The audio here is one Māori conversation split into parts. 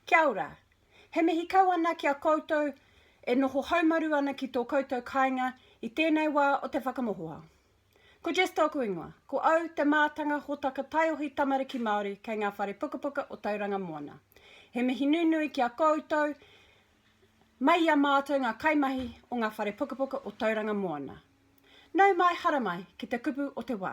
Kia ora. He mihi kau ana ki a koutou e noho haumaru ana ki tō koutou kāinga i tēnei wā o te whakamohoa. Ko Jess tōku ingoa. Ko au te mātanga hōtaka taiohi tamariki Māori kei ngā whare pukapuka o Tauranga Moana. He mihi nunui ki a koutou mai i a mātou ngā kaimahi o ngā whare pukapuka o Tauranga Moana. Nau mai, haramai ki te kupu o te wā.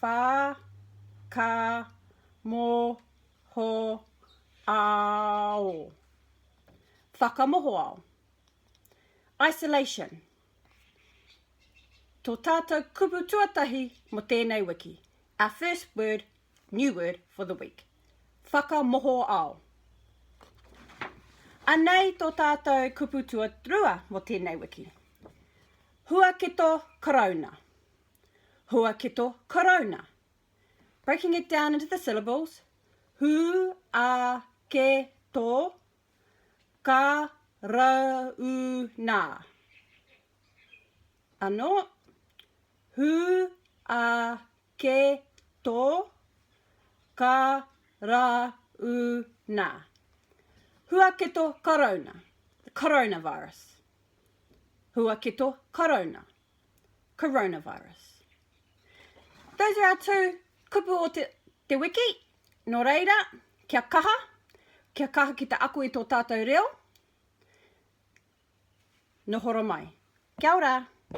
Whā ka mo ho ao. Whakamohoao. Isolation. Tō tātou kupu tuatahi mo tēnei wiki. Our first word New word for the week. Whakamoho ao. Anei tō tātou kupu tuatrua mō tēnei wiki. Huaketo karauna. Huaketo karauna. Breaking it down into the syllables. Hu a ke to ka ra u na. Ano hu a ke to ka ra u na. Huaketo Karauna, the coronavirus. Huaketo Karauna, coronavirus. Those are our two kupu o te, te wiki. No reira, kia kaha, kia kaha ki te ako i tō tātou reo. Nohoro mai. Kia ora!